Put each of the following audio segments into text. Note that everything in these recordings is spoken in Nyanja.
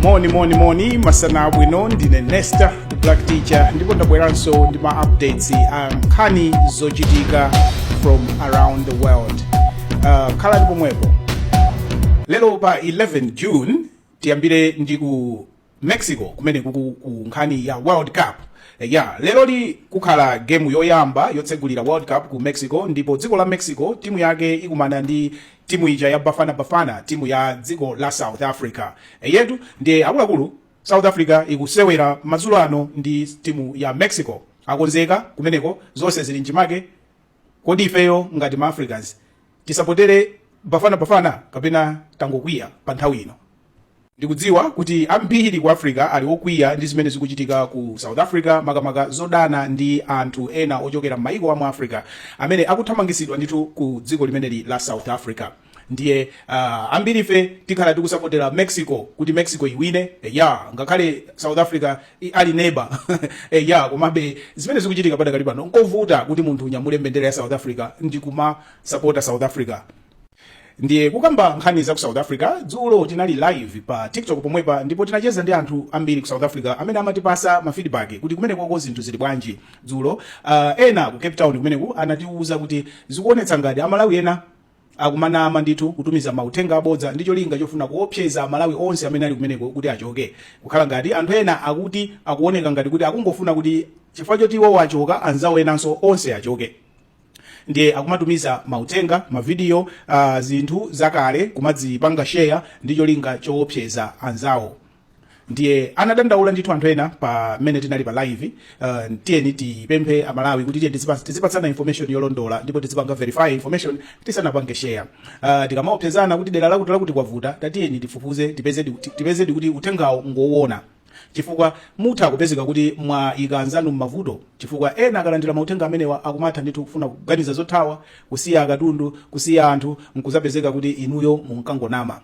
moni moni moni masana abwino ndine nesta the black teacher ndipo ndabweranso ndi ma updates a nkhani zochitika from around the world uh, khalani pomwepo lero pa 11 june tiyambire ndi ku mexico kumene kuku ku nkhani ya world cup Eh, ya leroli kukhala gemu yoyamba yotsegulira world cup ku mexico ndipo dziko la mexico timu yake ikumana ndi timu ija ya bafana bafana timu ya dziko la south africa eyetu ndiye akuluakulu south africa ikusewera madzulo ano ndi timu ya mexico akonzeka kumeneko zonse zili mchimake kodi ifeyo ngati ma africans tisapotere bafana bafana kapena tangokwiya pa nthawi ino Ndikudziwa kuti ambiri ku Africa ali okwiya ndi zimene zikuchitika ku South Africa, makamaka zodana ndi anthu ena ochokera m'mayiko a mu Africa amene akuthamangitsidwa ndithu ku dziko limeneli la South Africa. Ndiye uh, ambirife tikhala tikusapotera Mexico kuti Mexico iwine eya ngakhale South Africa i- ali neba eya komabe zimene zikuchitika padakali pano nkovuta kuti munthu unyamule mbendera ya South Africa ndi kumasapota South Africa ndiye kukamba nkhani za ku south africa dzulo tinali live pa tiktok pomwepa ndipo tinacheza ndi anthu ambiri ku south africa amene amatipasa ma feedback kuti kumenekoko zinthu zili bwanji dzulo uh, ena ku cape town kumeneku anatiuza kuti zikuonetsa ngati amalawi ena akumanama ndithu kutumiza mauthenga abodza ndi cholinga chofuna kuopseza amalawi onse amene ali kumeneko kuti achoke kukhala ngati anthu ena akuti akuoneka ngati kuti akungofuna kuti chifukwa choti iwowo achoka anzawo enanso onse achoke ndiye akumatumiza mauthenga mavidiyo uh, zinthu zakale kumadzipanga sheya ndi cholinga choopseza anzawo ndiye anadandaula ndithu anthu ena pa mmene tinali pa live uh, tiyeni tipemphe amalawi kuti tiye tizipa- tizipatsana information yolondola ndipo tizipanga verify information tisanapange share uh, tikamaopsezana kuti dera lakuti lakuti kwavuta tatiyeni tifufuze tipezedi kuti- tipezedi kuti uthengawo ngowona chifukwa mutha kupezeka kuti mwaika anzanu m'mavuto chifukwa ena akalandira mauthenga amenewa akumatha ndithu kufuna kuganiza zothawa kusiya akatundu kusiya anthu nkuzapezeka kuti inuyo munkangonama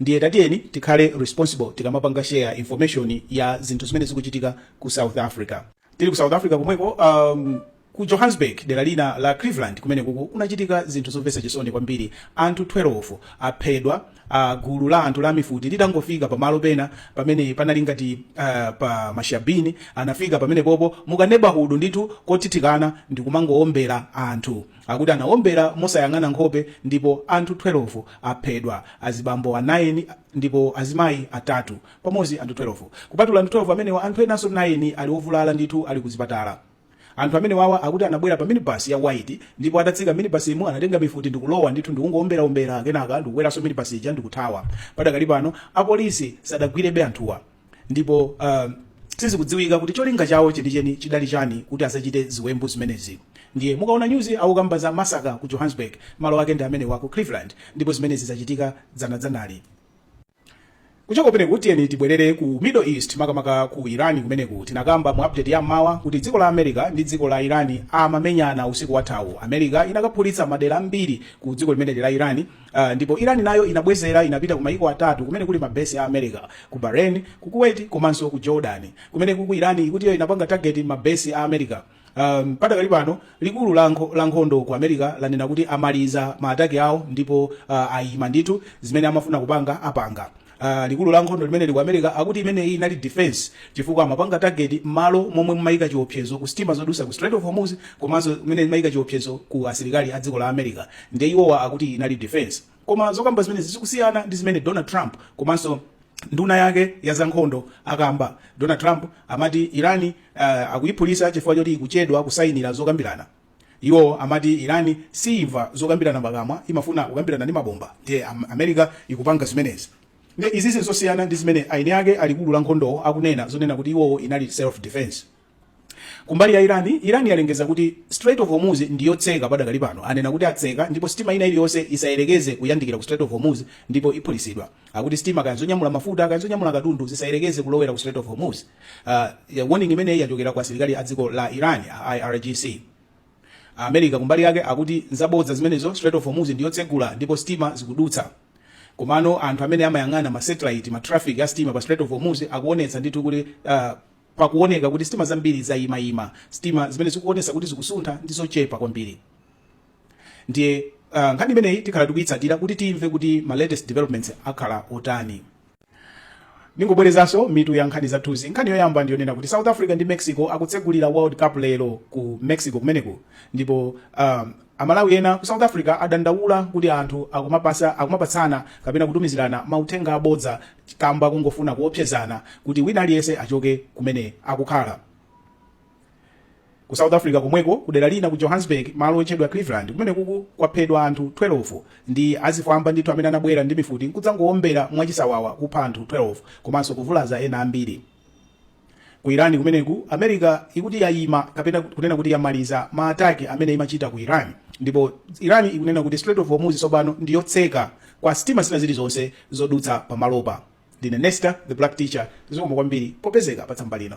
ndiye tatiyeni tikhale responsible tikamapanga share information ya zinthu zimene zikuchitika ku south africa Tili ku South Africa komweko, um, ku Johannesburg, dera lina la Cleveland kumenekuku kunachitika zinthu zomvetsa chisoni kwambiri. Anthu 12 aphedwa ah, gulu la anthu la mifuti litangofika pamalo pena pamene panali ngati ah, pa mashabini anafika pamenepopo mukanebahudu ndithu kothithikana ndi kumangowombera anthu akuti anawombera mosayang'ana nkhope ndipo anthu 12 aphedwa azibambo 9 ndipo azimayi atatu pamodzi anthu 12. Kupatula anthu 12 amenewa, anthu enanso 9 ali ovulala ndithu ali kuzipatala. Anthu amenewawa akuti anabwera pa minibus ya white ndipo atatsika minibusimo anatenga mifuti ndikulowa ndithu ndikungoomberaombera kenaka ndikukweranso minibus ija ndikuthawa. Padakali pano apolisi sadagwirebe anthuwa ndipo uh, sizikudziwika kuti cholinga chawo chenicheni chidali chani kuti akachite ziwembu zimenezi. Ndiye mukaona nyuzi akukamba za masaka ku Johannesburg, malo ake ndi amenewa ku Cleveland ndipo zimenezi zachitika dzanadzanali. kuchoka kumeneko tiyeni tibwerere ku middle east makamaka ku irani kumeneku tinakamba mu update ya mmawa kuti dziko la america ndi dziko la irani amamenyana usiku wathawu america inakaphulitsa madera ambiri ku dziko limeneli la irani uh, ndipo irani nayo inabwezera inapita ku maiko atatu kumene kuli mabesi a america ku bahrain ku kuwait komanso ku jordan kumeneku irani ikuti iyo inapanga target mabesi a america Um, padakali pano likulu la nkho- la nkhondo ku america lanena kuti amaliza maataki awo ndipo uh, ayima ndithu zimene amafuna kupanga apanga Uh, likulu la nkhondo limeneli ku america akuti imeneyi inali defense chifukwa amapanga target malo momwe mumayika chiopsezo ku sitima zodusa ku strait of hormuz komanso kumene mumayika chiopsezo ku asilikali a dziko la america ndiye iwowa akuti inali defense koma zokamba zimenezi zikusiyana ndi zimene donald trump komanso nduna yake ya zankhondo akamba donald trump amati irani uh, akuyiphulisa chifukwa choti ikuchedwa kusayinira zokambirana iwowo amati irani siimva zokambirana pakamwa imafuna kukambirana ndi mabomba ndiye am- america ikupanga zimenezi nde izizi zosiyana ndi zimene eni ake a likulu la nkhondowo akunena zonena kuti iwowo inali self defense Kumbali ya Iran, Iran yalengeza kuti Strait of Hormuz ndi yotseka padakali pano. Anena kuti atseka ndipo sitima ina iliyonse isayerekeze kuyandikira ku Strait of Hormuz ndipo iphulitsidwa. Akuti sitima kaya zonyamula mafuta kaya zonyamula katundu zisayerekeze kulowera ku Strait of Hormuz. Uh, warning imeneyi yachokera kwa asilikali a dziko la Iran, a IRGC. America kumbali yake akuti nzabodza zimenezo, Strait of Hormuz ndi yotsegula ndipo sitima zikudutsa. Komano anthu amene amayang'ana ma satellite, ma traffic a sitima pa Strait of Hormuz akuonetsa ndithu kuti uh, Pakuoneka kuti sitima zambiri zayimayima. Sitima zimene zikuonesa kuti zikusuntha ndi zochepa kwambiri. Ndiye ah, nkhani imeneyi tikhala tikuyitsatira kuti timve kuti ma latest developments akhala otani. Ndingobwerezanso mitu ya nkhani zathuzi. Nkhani yoyamba ndiyonena kuti South Africa ndi Mexico akutsegulira World Cup lero ku Mexico kumeneku ndipo ah, Amalawi ena ku South Africa adandaula kuti anthu akumapasa, akumapatsana kapena kutumizirana mauthenga abodza kamba kongofuna kuopsezana kuti wina aliyense achoke kumene akukhala. Ku South Africa komweko kudera lina ku Johannesburg malo otchedwa Cleveland kumeneku kwaphedwa anthu 12 ndi azifwamba ndithu amene anabwera ndi mifuti nkudzangoombera mwachisawawa kupha anthu 12 komanso kuvulaza ena ambiri. Ku Iran kumeneku, America ikuti yaima kapena kunena kuti yamaliza ma attack amene imachita ku Iran ndipo Iran ikunena kuti Strait of Hormuz tsopano ndi yotseka kwa sitima zina zilizonse zodutsa pamalopa. Ndine Nesta the Black Teacher, zikomo kwambiri popezeka pa tsamba lino.